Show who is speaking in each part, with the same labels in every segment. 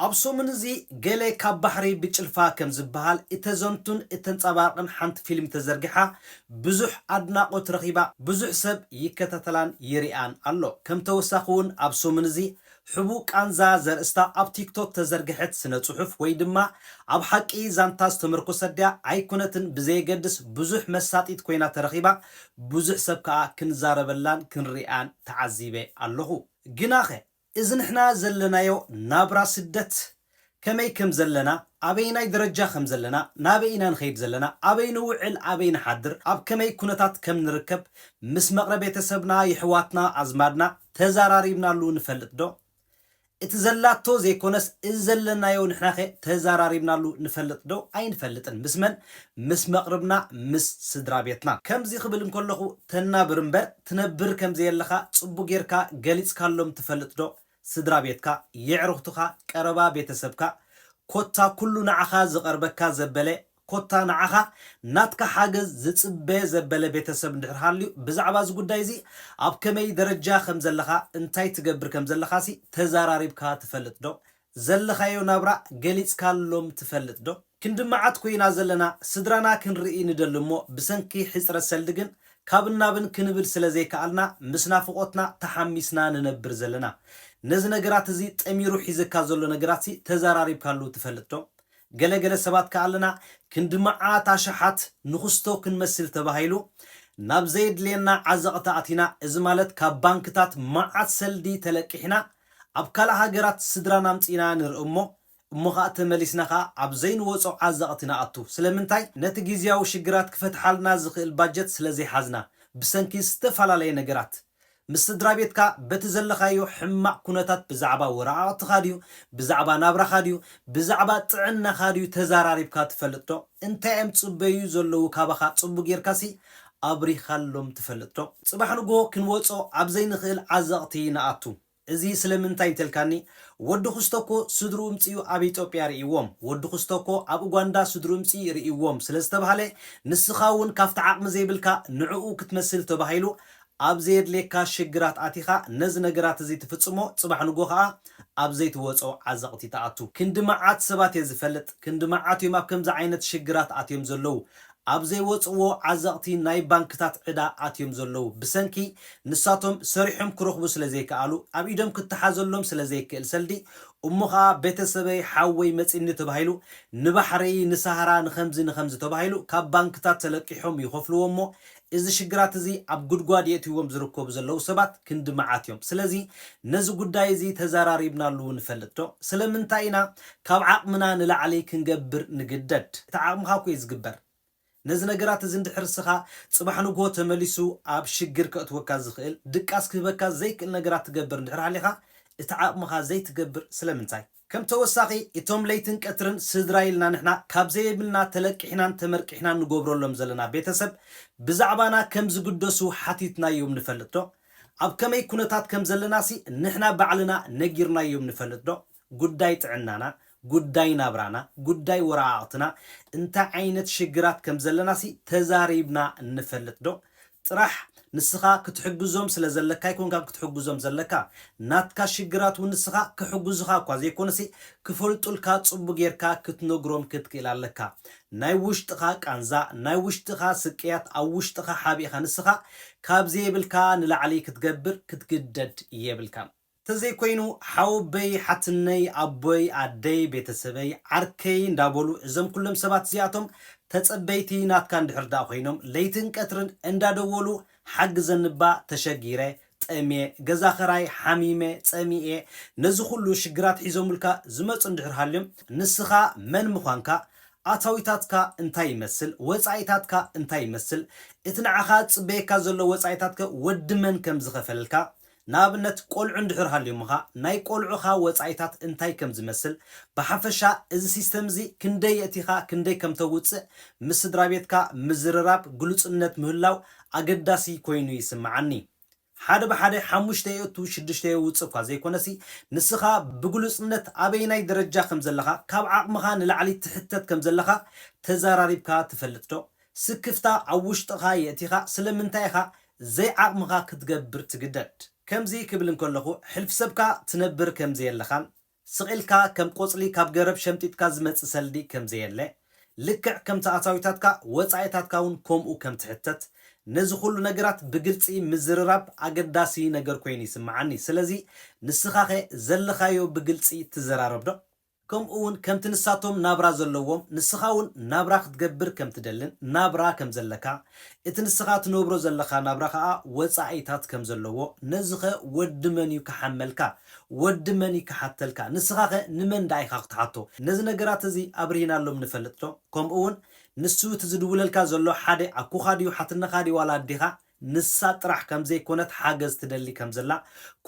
Speaker 1: ኣብ ሰሙን እዚ ገለ ካብ ባሕሪ ብጭልፋ ከም ዝበሃል እተዘንቱን እተንጸባርቕን ሓንቲ ፊልም ተዘርጊሓ ብዙሕ ኣድናቖት ረኺባ ብዙሕ ሰብ ይከታተላን ይሪኣን ኣሎ። ከም ተወሳኺ ውን ኣብ ሰሙን እዚ ሕቡእ ቃንዛ ዘርእስታ ኣብ ቲክቶክ ተዘርገሐት ስነ ጽሑፍ ወይ ድማ ኣብ ሓቂ ዛንታ ዝተመርኮሰት ድያ ኣይኮነትን ብዘየገድስ ብዙሕ መሳጢት ኮይና ተረኺባ ብዙሕ ሰብ ከኣ ክንዛረበላን ክንሪኣን ተዓዚበ ኣለኹ። ግናኸ እዚ ንሕና ዘለናዮ ናብራ ስደት ከመይ ከም ዘለና ኣበየናይ ደረጃ ከም ዘለና ናበይ ኢና ንኸይድ ዘለና ኣበይ ንውዕል ኣበይ ንሓድር ኣብ ከመይ ኩነታት ከም ንርከብ ምስ መቕረ ቤተሰብና የሕዋትና ኣዝማድና ተዛራሪብናሉ ንፈልጥ ዶ እቲ ዘላቶ ዘይኮነስ እዚ ዘለናዮ ንሕናኸ ተዛራሪብናሉ ንፈልጥ ዶ ኣይንፈልጥን ምስ መን ምስ መቕርብና ምስ ስድራቤትና ከምዚ ክብል እንከለኹ ተናብር እምበር ትነብር ከም ዘየለኻ ጽቡቕ ጌርካ ገሊጽካሎም ትፈልጥ ዶ ስድራ ቤትካ የዕሩኽትኻ ቀረባ ቤተሰብካ ኮታ ኩሉ ንዓኻ ዝቐርበካ ዘበለ ኮታ ንዓኻ ናትካ ሓገዝ ዝጽበ ዘበለ ቤተሰብ እንድሕር ሃልዩ ብዛዕባ እዚ ጉዳይ እዚ ኣብ ከመይ ደረጃ ከም ዘለኻ እንታይ ትገብር ከም ዘለኻሲ ተዛራሪብካ ትፈልጥ ዶ ዘለኻዮ ናብራ ገሊጽካሎም ትፈልጥ ዶ? ክንዲ መዓት ኮይና ዘለና ስድራና ክንርኢ ንደሊ እሞ ብሰንኪ ሕጽረት ሰልዲ ግን ካብን ናብን ክንብል ስለ ዘይከኣልና ምስ ናፍቖትና ተሓሚስና ንነብር ዘለና። ነዚ ነገራት እዚ ጠሚሩ ሒዘካ ዘሎ ነገራትሲ ተዛራሪብካሉ ትፈልጥ ዶ? ገለ ገለ ሰባት ከኣ ኣለና ክንዲ መዓት ኣሽሓት ንኹስቶ ክንመስል ተባሂሉ ናብ ዘየድልየና ዓዘቕቲ ኣቲና እዚ ማለት ካብ ባንክታት መዓት ሰልዲ ተለቂሕና ኣብ ካልእ ሃገራት ስድራና ኣምጺእና ንርእ'ሞ እሞ ኸኣ ተመሊስና ኸኣ ኣብ ዘይንወጾ ዓዘቕቲ ንኣቱ። ስለምንታይ? ነቲ ግዝያዊ ሽግራት ክፈትሓልና ዝኽእል ባጀት ስለ ዘይሓዝና፣ ብሰንኪ ዝተፈላለየ ነገራት። ምስ ስድራቤትካ በቲ ዘለኻዮ ሕማቕ ኩነታት ብዛዕባ ወረቓቕትኻ ድዩ፣ ብዛዕባ ናብራኻ ድዩ፣ ብዛዕባ ጥዕናኻ ድዩ ተዛራሪብካ ትፈልጥዶ? እንታይ'ዮም ዝጽበዩ ዘለዉ ካባኻ? ጽቡቕ ጌርካ'ሲ ኣብሪኻሎም ትፈልጥ ዶ? ጽባሕ ንግሆ ክንወጾ ኣብ ዘይንኽእል ዓዘቕቲ ንኣቱ። እዚ ስለምንታይ እንተልካኒ፣ ወዲ ኹስቶኮ ስድርኡ እምጺኡ ኣብ ኢጦጵያ ርእይዎም፣ ወዲ ኹስቶኮ ኣብ ኡጓንዳ ስድርኡ እምጺ ርእይዎም ስለ ዝተባህለ፣ ንስኻ እውን ካብቲ ዓቕሚ ዘይብልካ ንዕኡ ክትመስል ተባሂሉ ኣብ ዘየድልየካ ሽግራት ኣቲኻ ነዚ ነገራት እዚ ትፍጽሞ ጽባሕ ንግሆ ከኣ ኣብ ዘይትወጾ ዓዘቕቲ ትኣቱ። ክንዲ መዓት ሰባት እየ ዝፈልጥ፣ ክንዲ መዓት እዮም ኣብ ከምዚ ዓይነት ሽግራት ኣትዮም ዘለዉ። ኣብ ዘይወጽእዎ ዓዘቕቲ ናይ ባንክታት ዕዳ ኣትዮም ዘለዉ ብሰንኪ ንሳቶም ሰሪሖም ክረኽቡ ስለ ዘይከኣሉ ኣብ ኢዶም ክተሓዘሎም ስለ ዘይክእል ሰልዲ እሞ ከኣ ቤተሰበይ ሓወይ መጺኒ ተባሂሉ ንባሕረይ ንሳህራ ንኸምዚ ንኸምዚ ተባሂሉ ካብ ባንክታት ተለቂሖም ይኸፍልዎ እሞ እዚ ሽግራት እዚ ኣብ ጉድጓድ የእትይዎም ዝርከቡ ዘለዉ ሰባት ክንዲ መዓት እዮም ስለዚ ነዚ ጉዳይ እዚ ተዛራሪብናሉ ንፈልጥ ዶ ስለምንታይ ኢና ካብ ዓቕምና ንላዕሊ ክንገብር ንግደድ። እቲ ዓቕምኻ እኮ እዩ ዝግበር። ነዚ ነገራት እዚ እንድሕር እስኻ ጽባሕ ንግሆ ተመሊሱ ኣብ ሽግር ከእትወካ ዝኽእል፣ ድቃስ ክህበካ ዘይክእል ነገራት ትገብር እንድሕር ሃሊኻ፣ እቲ ዓቕምኻ ዘይትገብር ስለምንታይ? ከም ተወሳኺ፣ እቶም ለይትን ቀትርን ስድራይ ኢልና ንሕና ካብ ዘየብልና ተለቂሕናን ተመርቂሕናን ንጎብረሎም ዘለና ቤተሰብ ብዛዕባና ከም ዝግደሱ ሓቲትናዮም ንፈልጥ ዶ? ኣብ ከመይ ኩነታት ከም ዘለናሲ ንሕና ባዕልና ነጊርናዮም ንፈልጥ ዶ? ጉዳይ ጥዕናና፣ ጉዳይ ናብራና፣ ጉዳይ ወረቓቕትና፣ እንታይ ዓይነት ሽግራት ከም ዘለናሲ ተዛሪብና ንፈልጥዶ? ጥራሕ ንስኻ ክትሕግዞም ስለ ዘለካ ኣይኮንካን ክትሕግዞም ዘለካ፣ ናትካ ሽግራት እውን ንስኻ ክሕግዙኻ እኳ ዘይኮነሲ ክፈልጡልካ ጽቡቕ ጌርካ ክትነግሮም ክትክእል ኣለካ። ናይ ውሽጥኻ ቃንዛ፣ ናይ ውሽጥኻ ስቅያት ኣብ ውሽጥኻ ሓቢእኻ ንስኻ ካብ ዘየብልካ ንላዕሊ ክትገብር ክትግደድ የብልካን። ተዘይኮይኑ ሓወበይ ሓትነይ ኣቦይ ኣደይ ቤተሰበይ ዓርከይ እንዳበሉ እዞም ኩሎም ሰባት እዚኣቶም ተጸበይቲ ናትካ እንድሕር ድኣ ኮይኖም ለይትን ቀትርን እንዳደወሉ ሓግዘኒባ ተሸጊረ ጠምየ ገዛ ክራይ ሓሚመ ጸሚኤ ነዚ ኩሉ ሽግራት ሒዞምልካ ዝመጹ እንድሕር ሃልዮም ንስኻ መን ምዃንካ ኣታዊታትካ እንታይ ይመስል ወጻኢታትካ እንታይ ይመስል እቲ ንዓኻ ዝጽበየካ ዘሎ ወጻኢታትከ ወዲ መን ከም ዝኸፈልልካ ንኣብነት ቆልዑ እንድሕር ሃልዮምኻ ናይ ቆልዑኻ ወጻኢታት እንታይ ከም ዝመስል፣ ብሓፈሻ እዚ ሲስተም እዚ ክንደይ የእቲኻ ክንደይ ከም ተውጽእ ምስ ስድራቤትካ ምዝርራብ ግሉጽነት ምህላው ኣገዳሲ ኮይኑ ይስምዓኒ። ሓደ ብሓደ ሓሙሽተ የእቱ ሽዱሽተ የውጽእ እኳ ዘይኮነሲ ንስኻ ብግሉጽነት ኣበየናይ ደረጃ ከም ዘለኻ ካብ ዓቕምኻ ንላዕሊ ትሕተት ከም ዘለኻ ተዛራሪብካ ትፈልጥዶ? ስክፍታ ኣብ ውሽጥኻ የእቲኻ ስለምንታይ ኢኻ ዘይዓቕምኻ ክትገብር ትግደድ? ከምዚ ክብል እንከለኹ ሕልፍሰብካ ትነብር ከም ዘየለኻን ስቕ ኢልካ ከም ቆጽሊ ካብ ገረብ ሸምጢጥካ ዝመጽእ ሰልዲ ከም ዘየለ ልክዕ ከምቲ ኣታዊታትካ ወጻኢታትካ ውን ከምኡ ከም ትሕተት ነዚ ኩሉ ነገራት ብግልጺ ምዝርራብ ኣገዳሲ ነገር ኮይኑ ይስምዓኒ ስለዚ ንስኻኸ ዘለኻዮ ብግልጺ ትዘራረብዶ? ከምኡ ውን ከምቲ ንሳቶም ናብራ ዘለዎም ንስኻ ውን ናብራ ክትገብር ከም ትደልን ናብራ ከም ዘለካ እቲ ንስኻ ትነብሮ ዘለኻ ናብራ ከኣ ወጻኢታት ከም ዘለዎ ነዚኸ ወዲ መን ዩ ክሓመልካ ወዲ መን ዩ ክሓተልካ ንስኻኸ ንመን ደኣ ኢኻ ክትሓቶ ነዚ ነገራት እዚ ኣብርሂናሎም ንፈልጥ ዶ ከምኡ ውን ንሱ እቲ ዝድውለልካ ዘሎ ሓደ ኣኩኻ ድዩ ሓትነኻ ድዩ ዋላ ኣዴኻ ንሳ ጥራሕ ከም ዘይኮነት ሓገዝ ትደሊ ከም ዘላ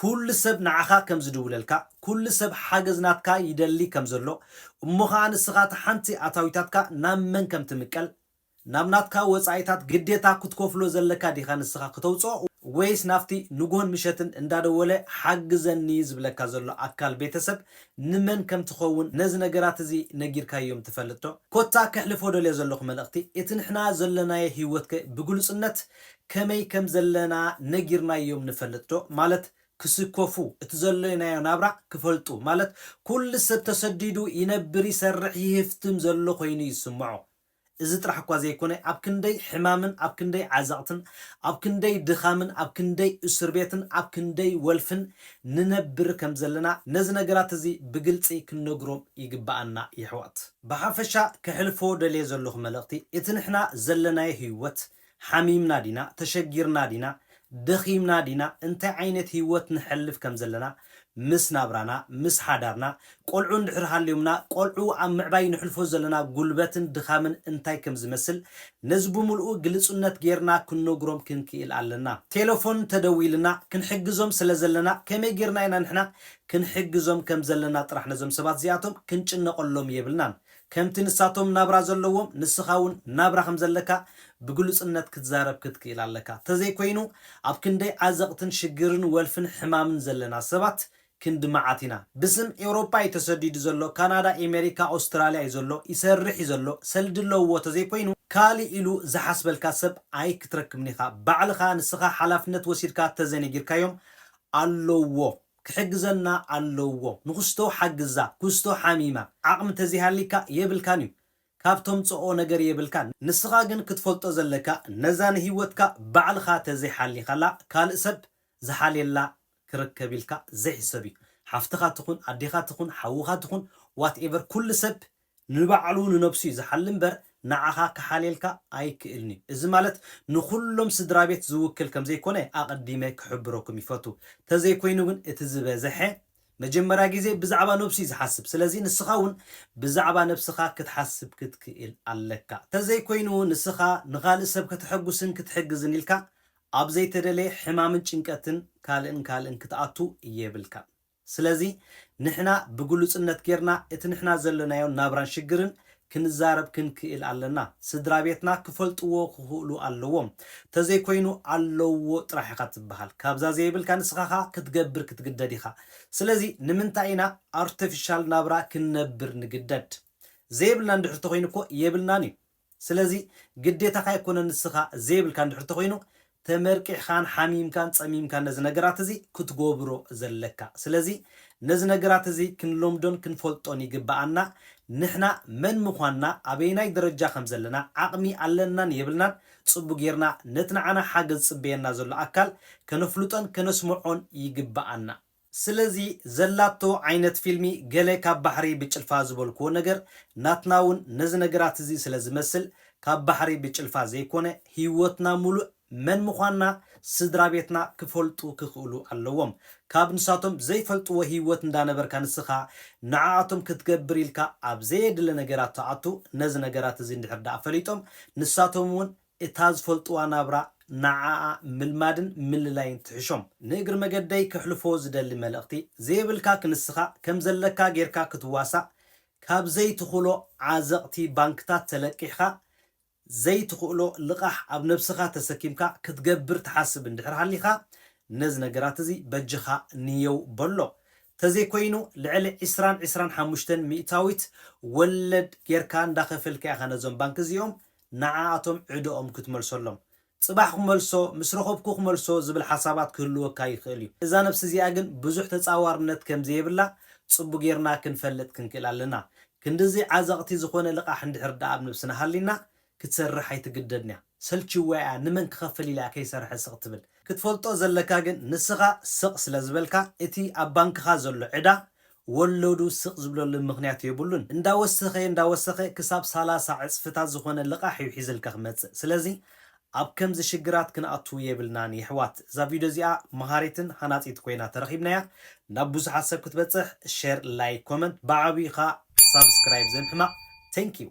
Speaker 1: ኩሉ ሰብ ንዓኻ ከም ዝድውለልካ ኩሉ ሰብ ሓገዝ ናትካ ይደሊ ከም ዘሎ እሞ ኸኣ ንስኻ እታ ሓንቲ ኣታዊታትካ ናብ መን ከም ትምቀል ናብ ናትካ ወጻኢታት ግዴታ ክትከፍሎ ዘለካ ዲኻ ንስኻ ክተውጽኦ ወይስ ናብቲ ንግሆን ምሸትን እንዳደወለ ሓግዘኒ ዝብለካ ዘሎ ኣካል ቤተሰብ ንመን ከም ትኸውን ነዚ ነገራት እዚ ነጊርካዮም ትፈልጥዶ? ኮታ ከሕልፎ ደልዮ ዘለኹ መልእኽቲ፣ እቲ ንሕና ዘሎናዮ ህይወትከ ብግሉጽነት ከመይ ከም ዘለና ነጊርናዮም ንፈልጥዶ? ማለት ክስከፉ፣ እቲ ዘሎናዮ ናብራ ክፈልጡ፣ ማለት ኩሉ ሰብ ተሰዲዱ ይነብር ይሰርሕ ይህፍትም ዘሎ ኮይኑ ይስምዖ። እዚ ጥራሕ እኳ ዘይኮነ ኣብ ክንደይ ሕማምን ኣብ ክንደይ ዓዘቕትን ኣብ ክንደይ ድኻምን ኣብ ክንደይ እሱርቤትን ኣብ ክንደይ ወልፍን ንነብር ከም ዘለና ነዚ ነገራት እዚ ብግልጺ ክንነግሮም ይግብኣና የሕዋት። ብሓፈሻ ከሕልፎ ደልየ ዘለኹ መልእኽቲ እቲ ንሕና ዘለናዮ ህይወት ሓሚምና ዲና፣ ተሸጊርና ዲና፣ ደኺምና ዲና፣ እንታይ ዓይነት ህይወት ነሕልፍ ከም ዘለና፣ ምስ ናብራና፣ ምስ ሓዳርና፣ ቆልዑ እንድሕር ሃልዮምና፣ ቆልዑ ኣብ ምዕባይ ነሕልፎ ዘለና ጉልበትን ድኻምን እንታይ ከም ዝመስል፣ ነዚ ብምልኡ ግልጹነት ጌርና ክንነግሮም ክንክኢል ኣለና። ቴለፎን ተደዊሉና፣ ክንሕግዞም ስለ ዘለና፣ ከመይ ጌርና ኢና ንሕና ክንሕግዞም ከም ዘለና ጥራሕ ነዞም ሰባት እዚኣቶም ክንጭነቐሎም የብልናን። ከምቲ ንሳቶም ናብራ ዘለዎም ንስኻ እውን ናብራ ከም ዘለካ ብግሉጽነት ክትዛረብ ክትክእል ኣለካ። ተዘይኮይኑ ኣብ ክንደይ ዓዘቕትን ሽግርን ወልፍን ሕማምን ዘለና ሰባት ክንዲ መዓት ኢና። ብስም ኤውሮጳ እዩ ተሰዲዱ ዘሎ ካናዳ ኤመሪካ ኣውስትራልያ እዩ ዘሎ ይሰርሕ እዩ ዘሎ ሰልዲ ኣለውዎ ተዘይኮይኑ ካልእ ኢሉ ዝሓስበልካ ሰብ ኣይክትረክብን ኢኻ ባዕልኻ ንስኻ ሓላፍነት ወሲድካ ተዘነጊርካዮም ኣለውዎ ክሕግዘና ኣለዎ ንኩስቶ ሓግዛ ኩስቶ ሓሚማ ዓቅሚ ተዘይሃሊካ የብልካን እዩ ካብ ተምጾኦ ነገር የብልካን ንስካ ግን ክትፈልጦ ዘለካ ነዛ ንሂወትካ ባዕልካ ተዘይ ሓሊካላ ካልእ ሰብ ዝሓልየላ ክርከብ ኢልካ ዘይሕሰብ እዩ ሓፍትካ ትኩን ኣዴካ ትኩን ሓውካ ትኩን what ever ኩሉ ሰብ ንባዕሉ ንነብሱ'ዩ ዝሓሊ እምበር ንዓኻ ክሓልየልካ ኣይክእልን'ዩ። እዚ ማለት ንኹሎም ስድራቤት ዝውክል ከምዘይኮነ ኣቐዲመ ክሕብረኩም ይፈቱ። ተዘይኮይኑ ግን እቲ ዝበዘሐ መጀመርያ ግዜ ብዛዕባ ነብሱ'ዩ ዝሓስብ። ስለዚ ንስኻ'ውን ብዛዕባ ነብስኻ ክትሓስብ ክትክእል ኣለካ። ተዘይኮይኑ ንስኻ ንኻልእ ሰብ ከተሐጉስን ክትሕግዝን ኢልካ ኣብ ዘይተደለየ ሕማምን ጭንቀትን ካልእን ካልእን ክትኣቱ የብልካን። ስለዚ ንሕና ብግሉጽነት ጌርና እቲ ንሕና ዘለናዮ ናብራን ሽግርን ክንዛረብ ክንክእል ኣለና። ስድራቤትና ክፈልጥዎ ክኽእሉ ኣለዎም። ተዘይኮይኑ ኣለውዎ ጥራሕ ኢኻ ትብሃል። ካብዛ ዘየብልካ ንስኻኻ ክትገብር ክትግደድ ኢኻ። ስለዚ ንምንታይ ኢና ኣርተፊሻል ናብራ ክንነብር ንግደድ? ዘየብልና እንድሕር ተኾይኑ እኮ የብልናን እዩ። ስለዚ ግዴታኻ ኣይኮነን ንስኻ ዘይብልካ እንድሕር ተኾይኑ ተመርቂሕኻን ሓሚምካን ጸሚምካን ነዚ ነገራት እዚ ክትጎብሮ ዘለካ ስለዚ ነዚ ነገራት እዚ ክንለምዶን ክንፈልጦን ይግብኣና ንሕና መን ምኳንና ኣበየናይ ደረጃ ከም ዘለና ዓቕሚ ኣለናን የብልናን ጽቡ ጌርና ነቲ ንዓና ሓገዝ ዝጽበየና ዘሎ ኣካል ከነፍልጦን ከነስምዖን ይግብኣና። ስለዚ ዘላቶ ዓይነት ፊልሚ ገለ ካብ ባሕሪ ብጭልፋ ዝበልክዎ ነገር ናትና ውን ነዚ ነገራት እዚ ስለ ዝመስል ካብ ባሕሪ ብጭልፋ ዘይኮነ ሂወትና ሙሉእ መን ምኳንና ስድራቤትና ክፈልጡ ክክእሉ ኣለዎም ካብ ንሳቶም ዘይፈልጥዎ ሂወት እንዳነበርካ ንስካ ንዓኣቶም ክትገብር ኢልካ ኣብ ዘየድሊ ነገራት ትኣቱ ነዚ ነገራት እዚ እንድሕር ድኣ ፈሊጦም ንሳቶም ውን እታ ዝፈልጥዋ ናብራ ንዓኣ ምልማድን ምልላይን ትሕሾም። ንእግሪ መገደይ ከሕልፎ ዝደሊ መልእኽቲ፣ ዘየብልካ ክንስኻ ከም ዘለካ ጌርካ ክትዋሳእ ካብ ዘይትኽሎ ዓዘቕቲ ባንክታት ተለቂሕኻ ዘይትኽእሎ ልቓሕ ኣብ ነብስኻ ተሰኪምካ ክትገብር ትሓስብ እንድሕር ሃሊኻ ነዚ ነገራት እዚ በጃኻ ንየው በሎ ተዘይኮይኑ ልዕሊ ዕስራን ዕስራን ሓሙሽተን ሚእታዊት ወለድ ጌርካ እንዳኸፈልካ ኢኻ ነዞም ባንክ እዚኦም ንዓኣቶም ዕደኦም ክትመልሰሎም፣ ጽባሕ ክመልሶ፣ ምስ ረኹብኩ ክመልሶ ዝብል ሓሳባት ክህልወካ ይኽእል እዩ። እዛ ነብሲ እዚኣ ግን ብዙሕ ተጻዋርነት ከም ዘየብላ ጽቡ ጌርና ክንፈልጥ ክንክእል ኣለና። ክንድዚ ዓዘቕቲ ዝኾነ ልቓሕ እንድሕር ድኣ ኣብ ነብስና ሃልይና፣ ክትሰርሕ ኣይትግደድን'ያ። ሰልቺዋ'ያ ንመን ክኸፍል ኢላ'ያ ከይሰርሐ ስቕ ትብል። ክትፈልጦ ዘለካ ግን ንስኻ ስቕ ስለ ዝበልካ እቲ ኣብ ባንክኻ ዘሎ ዕዳ ወሎዱ ስቕ ዝብለሉ ምኽንያት የብሉን። እንዳወሰኸ እንዳወሰኸ ክሳብ ሰላሳ ዕጽፍታት ዝኾነ ልቓሕ እዩ ሒዝልካ ክመጽእ። ስለዚ ኣብ ከምዚ ሽግራት ክንኣቱ የብልናን የሕዋት። እዛ ቪድዮ እዚኣ መሃሪትን ሃናጺት ኮይና ተረኺብናያ። ናብ ብዙሓት ሰብ ክትበጽሕ ሸር ላይክ ኮመንት ብዓብዩኻ ሳብስክራይብ ዘይምሕማቕ Thank you።